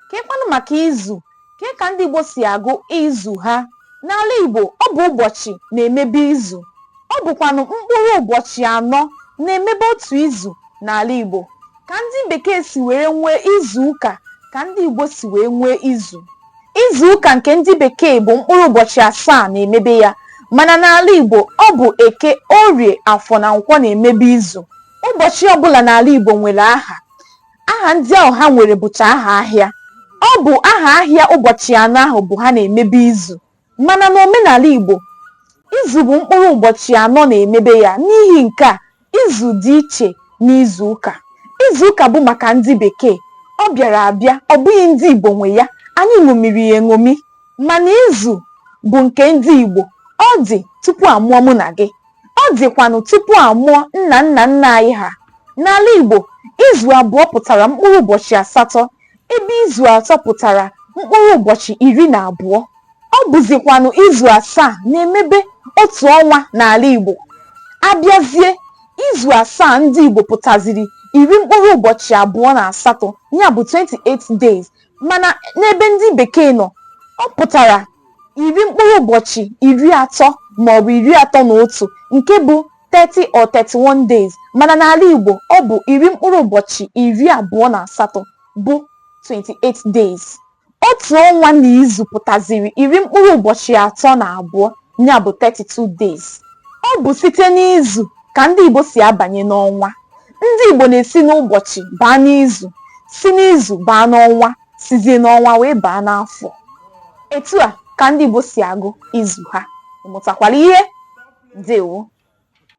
Kee kwanụ maka izu kee ka ndị Igbo si agụ izu ha n'ala Igbo ọ bụ ụbọchị na-emebe izu ọ bụkwanụ mkpụrụ ụbọchị anọ na-emebe otu izu n'ala Igbo ka ndị bekee si were nwee izu ụka ka ndị Igbo si wee nwee izu izu ụka nke ndị bekee bụ mkpụrụ ụbọchị asaa na-emebe ya mana n'ala Igbo ọ bụ eke orie afọ na nkwọ na-emebe izu ụbọchị ọbụla n'ala Igbo nwere aha aha ndị ahụ ha nwere bụcha aha ahịa ọ bụ aha ahịa ụbọchị anọ ahụ bụ ha na-emebe izu mana n'omenala Igbo izu bụ mkpụrụ ụbọchị anọ na-emebe ya n'ihi nke a izu dị iche n'izu ụka izu ụka bụ maka ndị bekee ọ bịara abịa ọ bụghị ndị Igbo nwe ya anyị ṅomiri ya eṅomi mana izu bụ nke ndị Igbo ọ dị tupu a mụọ mụ na gị Ọ dịkwanụ tupu a mụọ nna nna nna anyị ha. N'ala Igbo, izu abụọ pụtara mkpụrụ ụbọchị asatọ ebe izu atọ pụtara mkpụrụ ụbọchị iri na abụọ. Ọ bụzikwanụ izu asaa na-emebe otu ọnwa n'ala Igbo. A bịazie, izu asaa ndị Igbo pụtaziri iri mkpụrụ ụbọchị abụọ na asatọ ya bụ 28 days mana n'ebe ndị bekee nọ ọ pụtara iri mkpụrụ ụbọchị iri atọ maọbụ iri atọ na otu nke bụ 30 or 31 days mana n'ala Igbo ọ bụ iri mkpụrụ ụbọchị iri abụọ na asatọ bụ 28 days otu ọnwa na izu pụtaziri iri mkpụrụ ụbọchị atọ na abụọ ya bụ 32 days ọ bụ site n'izu ka ndị Igbo si abanye n'ọnwa ndị Igbo na-esi n'ụbọchị baa n'izu si n'izu baa n'ọnwa sizie n'ọnwa wee baa n'afọ etu a ka ndị Igbo si agụ izu ha ị mụtakwara ihe ndewo